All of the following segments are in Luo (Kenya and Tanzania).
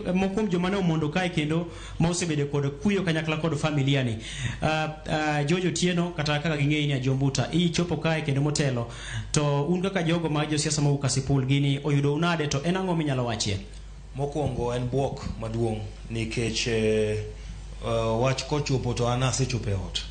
moko kuom joma ne omondo kae kendo ma osebedo kod kuyo kanyakla kod familia ni uh, uh, Jojo Tieno kata kaka ging'eyi ni Ajombuta ichopo kae kendo motelo to un kaka jogo ma josiasa mowuok Kasipul gini oyudo unade to en ang'o minyalo wachie mokwongo en bwok maduong' nikech eh, eh, wach kochopo to an asechopo e ot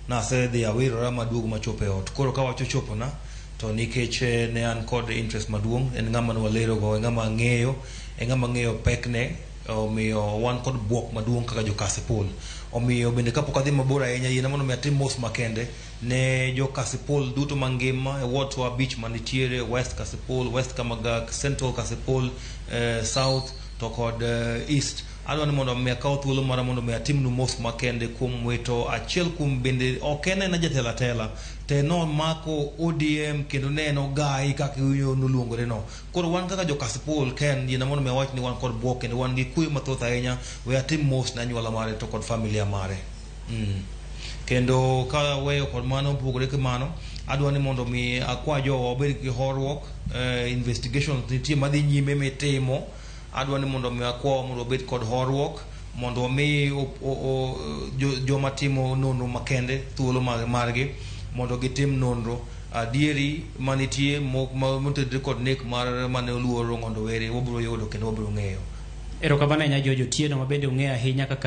nasedhi awirora maduogo machopo e ot koro ka wach ochopona to nikech eh, ne an kod interest maduong' en ng'ama nwalerogo en ng'ama ang'eyo e ng'ama ng'eyo pekne, omiyo wan kod bwok maduong' kaka jo Kasipul. Omiyo bende kapok adhi mabor ahinya, yiena mondo mi atim mos makende ne jo Kasipul duto mangima e wards wa abich manitiere, West Kasipul, West Kamagak, Central Kasipul, eh, South to kod eh, East. Adwa ni mondo mi akaw thuolo mara mondo mi atimnu mos makende kuom wito achiel kuom bende ok en aena jatelo atela, te nomako ODM kendo ne en ogayi kaka iwinjo noluongore no. Koro wan kaka jo Kasipul ken yena mondo mi awach ni wan kod bwok kendo wan gi kuyo mathoth ahinya we atim mos ne anyuola mare to kod familia mare. Mm. Kendo ka weyo kod mano opogore gi mano adwa ni mondo mi akwa jowa obed gi horuok eh, investigations nitie madhi nyime mitimo Adwa ni mondo mi akwa mondo obed kod horuok mondo omi joma timo nonro makende thuolo margi mondo gitim nonro adieri manitie motedre kod nek mar mane oluor Rong'ondo Were wabiro yudo kendo wabiro ng'eyo. Erokamano ahinya George Otieno ma bende ong'eyo ahinya kaka